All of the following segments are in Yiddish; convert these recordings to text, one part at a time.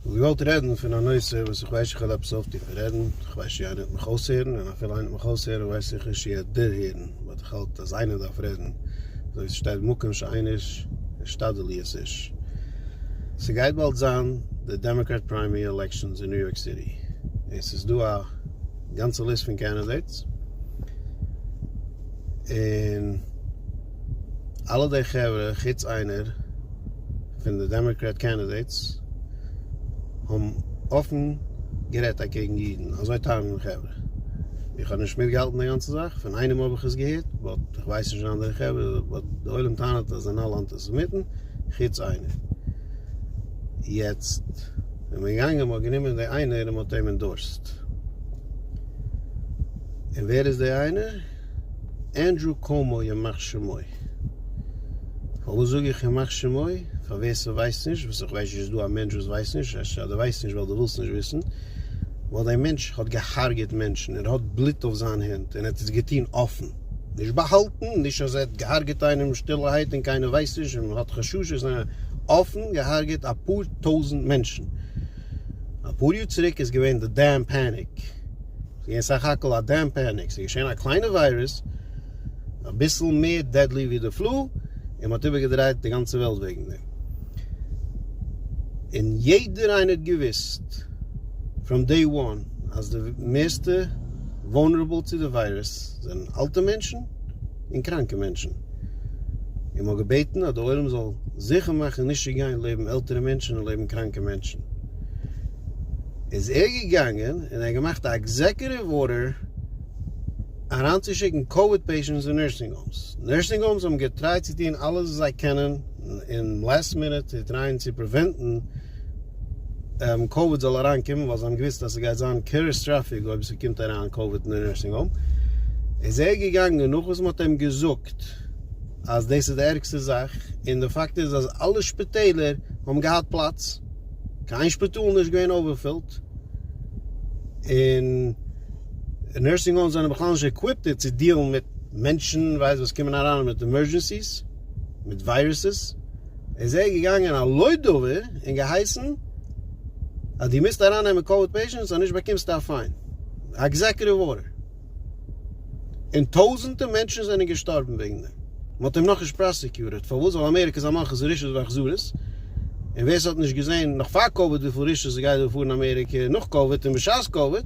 כ'האב געוואלט רעדן פון א נושא וואס איך ווייס כ'וועל עפעס אויפטון פון רעדן, איך ווייס שיער איינער וועט מיך אויסהערן, און אפילו איינער וועט מיך אויסהערן ווייס איך נישט שיער דערהערן, באט איך האלט אז איינער דארף רעדן, אזוי ווי ס'שטייט מקום שאין איש אשתדל להיות איש. ס'גייט באלד זיין די דעמאקראט פריימערי עלעקשאנס אין ניו יארק סיטי, און ס'איז דא א גאנצע ליסט פון קענדידעיטס, און. אלע די חברה חוץ איינער פון די דעמאקרעט קענדידעיטס האבן אפן גערעדט אקעגן אידן, אזוי טענה'ן די חברה, איך האב נישט מיטגעהאלטן די גאנצע זאך, פון איינעם האב איך עס געהערט, באט איך ווייס נישט פון אנדערע חברה, באט די עולם טענה'ט אז זיי זענען אלע אנטיסעמיטן חוץ איינער, יעצט איז מען געגאנגען מ'האט גענומען די איינער און מ'האט אים אינדארסט, און ווער איז די איינער? ענדרו קאומאו ימח שמו. פארוואס זאג איך ימח שמו? פאר ווער ס'ווייסט נישט, וואס איך ווייס נישט איז דא א מענטש וואס ווייסט נישט, אפשר דו ווייסט נישט ווייל דו ווילסט נישט וויסן, ווייל דעי מענטש האט געהארגעט מענטשן און ער האט בלוט אויף זיין הענט און ער האט עס געטוהן אפן, נישט באהאלטן, נישט אז ער האט געהארגעט איינעם שטילערהייט און קיינער ווייסט נישט און מ'האט חששות, ניין, אפן געהארגעט אפאר טויזנט מענטשן. אפאר יאר צוריק איז געווען די דעם פעניק. ס'געווען סך הכל א דעם פעניקס, ס'איז געשען א קליינע וויירוס, אביסל מער דעדלי ווי די פלו, און מ'האט איבערגעדרייט די גאנצע וועלט וועגן דעם. און יעדער איינער האט געוואוסט פראם דעי וואן אז די מערסטע וואלנערעבל צו די וויירוס זענען אלטע מענטשן און קראנקע מענטשן, און מ'האט געבעטן אז די עולם זאל זיכער מאכן נישט צו גיין לעבן עלטערע מענטשן און לעבן קראנקע מענטשן. איז ער געגאנגען און ער האט געמאכט א עקזעקוטיוו ארדער אריינצושיקן קאוויד פעישענטס אין נורסינג האומס, נורסינג האומס האבן געטרייט צו טון אלעס וואס זיי קענען אין לעסט מינוט צו טרייען צו פריווענטן קאוויד זאל אריינקומען, ווייל זיי האבן געוואוסט אז ס'גייט זיין קעטאסטראפיק אויב ס'קומט אריין קאוויד אין די נורסינג האום, איז ער געגאנגען נאך וואס מ'האט אים געזאגט. אז דאס איז די ערגסטע זאך, און די פאקט איז אז אלע שפיטעלער האבן געהאט פלאץ, קיין שפיטאל נישט געווען אווערפילט, און נורסינג האומס זענען בכלל נישט עקוויפטעד צו דיעלן מיט מענטשן ווייסט וואס קומען אריין מיט עמורדזשענסיס, מיט וויירוסעס, איז ער געגאנגען על לא דבר און געהייסן אז דו מוזט ארייננעמען קאוויד פעישענטס אז נישט באקומסטו א פיין, עקזעקוטיוו ארדער. און טויזענטע מענטשן זענען געשטארבן וועגן דעם, מען האט אים נאכנישט פראסעקיוטעד, פארוואס? ווייל אמעריקע איז א מלכות רשעות ואכזרית, און ווער ס'האט נישט געזען נאך פאר קאוויד וויפיל רשעות ס'גייט דא פאר אין אמעריקע, נאך קאוויד און בשעת קאוויד,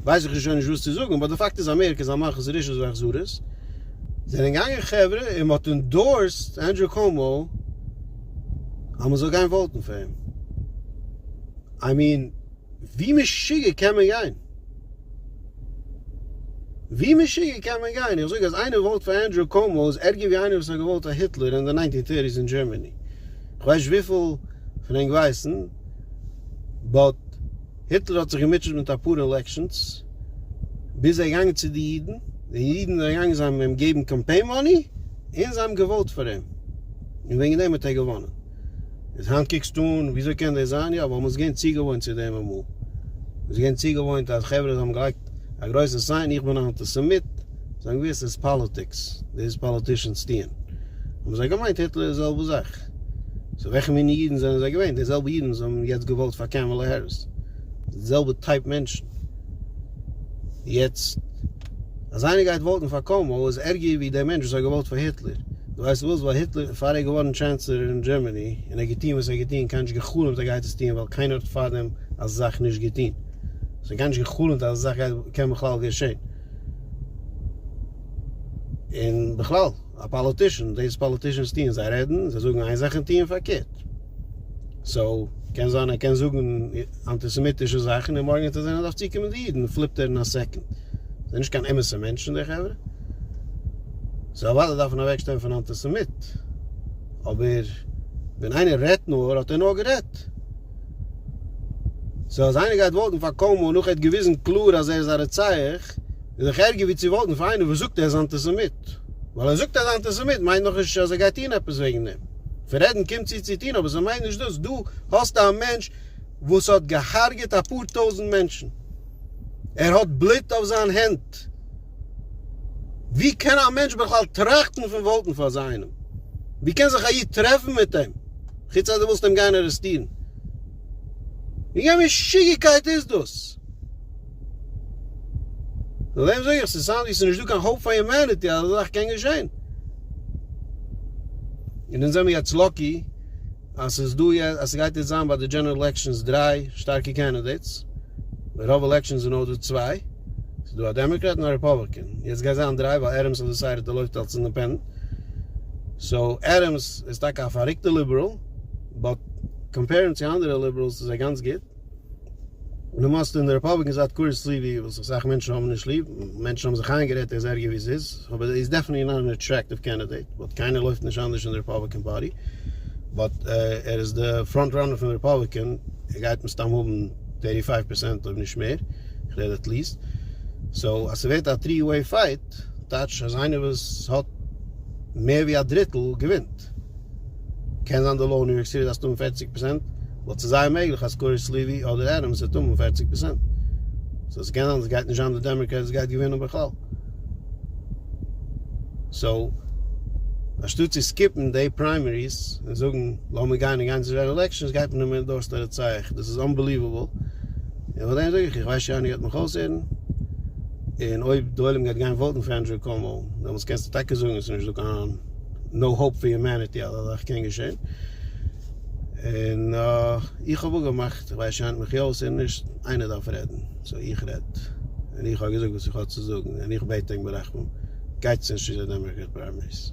ווייס איך שוין נישט וואס צו זאגן, באט די פאקט איז אמעריקע איז א מלכות רשעות ואכזרית, זענען געגאנגען חברה און מען האט אינדארסט ענדרו קאומאו אז מען זאל גיין וואוטן פאר אים, איי מין ווי משוגע קען מען גיין? ווי משוגע קען מען גיין? איך זאג אז איינער וואוט פאר ענדרו קאומאו איז ערגער ווי איינער וואס האט געוואוט פאר היטלער אין די ניינטין טערטיס אין דזשערמעני. איך ווייס נישט וויפיל פון ענק ווייסן, באט היטלער האט זיך געמוטשעט מיט אפאר אילעקשאנס ביז ער איז געגאנגען צו די אידן, די אידן זענען געגאנגען זיי האבן אים געבן קאמפיין מאני און זיי האבן געוואוט פאר אים און וועגן דעם האט ער געוואנען. איז היינט קוקסטו אן וויאזוי קען דאס זיין? יא, ווייל מ'איז געווען צוגעוואוינט צו דעם אמאל. מ'איז געווען צוגעוואוינט אז חברה זיי האבן געלייגט א גרויסע סיין איך בין א אנטיסעמיט, זיי האבן געוואוסט ס'איז פאליטיקס, דאס וואס פאליטישאנס טוען. האבן זיי געמיינט היטלער איז די זעלבע זאך. סאו וועלכע מינע אידן זענען זיי געווען? די זעלבע אידן וואס האבן יעצט געוואוט פאר קעמעלע העריס. די זעלבע טייפ מענטשן. יעצט אז איינער גייט וואוטן פאר קאומאו איז ערגער ווי דער מענטש וואס האט געוואוט פאר היטלער. דו ווייסט וואס? ווייל היטלער פאר ער איז געווארן טשענסלער אין דזשערמעני און ער האט געטוהן וואס ער האט געטוהן קיינער האט נישט געחלומט ער גייט עס טוהן ווייל קיינער האט פארדעם אזא זאך נישט געטוהן. עס האט קיינער נישט געחלומט אז אזא זאך קען בכלל געשעהן. און בכלל א פאליטישען דאס וואס פאליטישענס טוהן זיי רעדן זיי זאגן איין זאך און טוהן פארקערט. סאו קען זיין ער קען זאגן אנטיסעמיטישע זאכן און מארגן וועט ער זען אז דארף צוקומען די אידן פליפט ער אין א סעקאנד. זענען נישט קיין אמת'ע מענטשן די חברה. סאו אוודאי דארף מען אוועקשטיין פון אנטיסעמיט. אבער ווען איינער רעדט נאר האט ער נאר גערעדט. סאו אז איינער גייט וואוטן פאר קאומאו נאך ער האט געוויזן קלאר אז ער איז א רוצח. איז דאך ערגער ווי צו וואוטן פאר איינער וואס זאגט ער איז אנטיסעמיט. ווייל ער זאגט ער איז אנטיסעמיט מיינט נאכנישט אז ער גייט טון עפעס וועגן דעם. פון רעדן קומט צו צו טון אבער ס'מיינט נישט דאס. דא האסטו א מענטש וואס האט געהארגעט אפאר טויזנט מענטשן. ער האט בלוט אויף זיין הענט. ווי קען א מענטש בכלל טראכטן פון וואוטן פאר אזא איינעם? ווי קען זיך א איד טרעפן מיט אים? חוץ אז דו ווילסט אים גיין ארעסטירן. ווי א משוגעקייט איז דאס? נאר דעם זאג איך ס'איז אינטערסאנט ווי ס'איז נישט דא קיין האופ פאר יומעניטי אז אזא זאך קען געשען. און אונז זעמיר יעצט לאקי אז ס'איז דא יעצט אז ס'גייט יעצט זיין ביי די דזשענעראל עלעקשאנס דריי שטארקע קענדידעיטס. ביי רוב עלעקשאנס איז נאר דא צוויי. ס'איז דא א דעמאקרעט און א רעפאבליקען. יעצט גייט זיין דריי ווייל עדעמס האט דעסיידעד ער לויפט אלס אינדעפענדענט. סאו עדעמס איז טאקע א פאריקטע ליבעראל באט קאמפערינג צו אנדערע ליבעראלס איז ער גאנץ גוט. למעשה אין די רעפאבליקען זייט קורס ליווי וואס איך סאך מענטשן האבן נישט ליב, מענטשן האבן זיך איינגערעדט ער איז ערגער ווי ס'איז, אבער ער איז דעפענעטלי נאט אן עטרעקטיוו קענדידעיט, באט קיינער לויפט נישט אנדערש אין די רעפאבליקען פארטי, באט ער איז די פראנט ראנער פון די רעפאבליקען, ער גייט מסתם האבן טערטי פייוו פערסענט אויב נישט מער, איך רעד עט ליעסט, סאו אז ס'ווערט א טרי וועי פייט, טייטש אז איינער וואס האט מער ווי א דריטל געווינט. קען זיין די לאו אין ניו יארק סיטי דארפסט האבן פֿערציק פראצענט, ווייל ס'איז זייער מעגליך אז קארעס סליווי אדער עדעמס וועט האבן פֿערציק פראצענט. סאו ס'קען זיין אז ס'גייט נישט זיין די דעמאקרעט וואס גייט געווינען בכלל. סאו אנשטאט צו סקיפן דעי פריימעריס און זאגן לאמיר גיין און גיין צו גענעראל עלעקשאנס גייט מען אים אינדארסן א רצח. דאס איז אנבעליוועבל. און פאר דעם זאג איך איך ווייס שוין איינער גייט מיך אויסהערן. און אויב די עולם גייט גיין וואוטן פאר ענדרו קאומאו דעמאלטס קענסטו טאקע זאגן עס איז נישט דא קיין נאו האופ פאר יומעניטי אז אזאך קען געשען. און איך האב אפגעמאכט, איך ווייס שיינט מיך אויס און נישט, איינער דארף רעדן, סאו איך רעד. און איך האב געזאגט וואס איך האב צו זאגן, און איך בעט ענק ברחמים, גייטס נישט צו די דעמאקראט פריימעריס.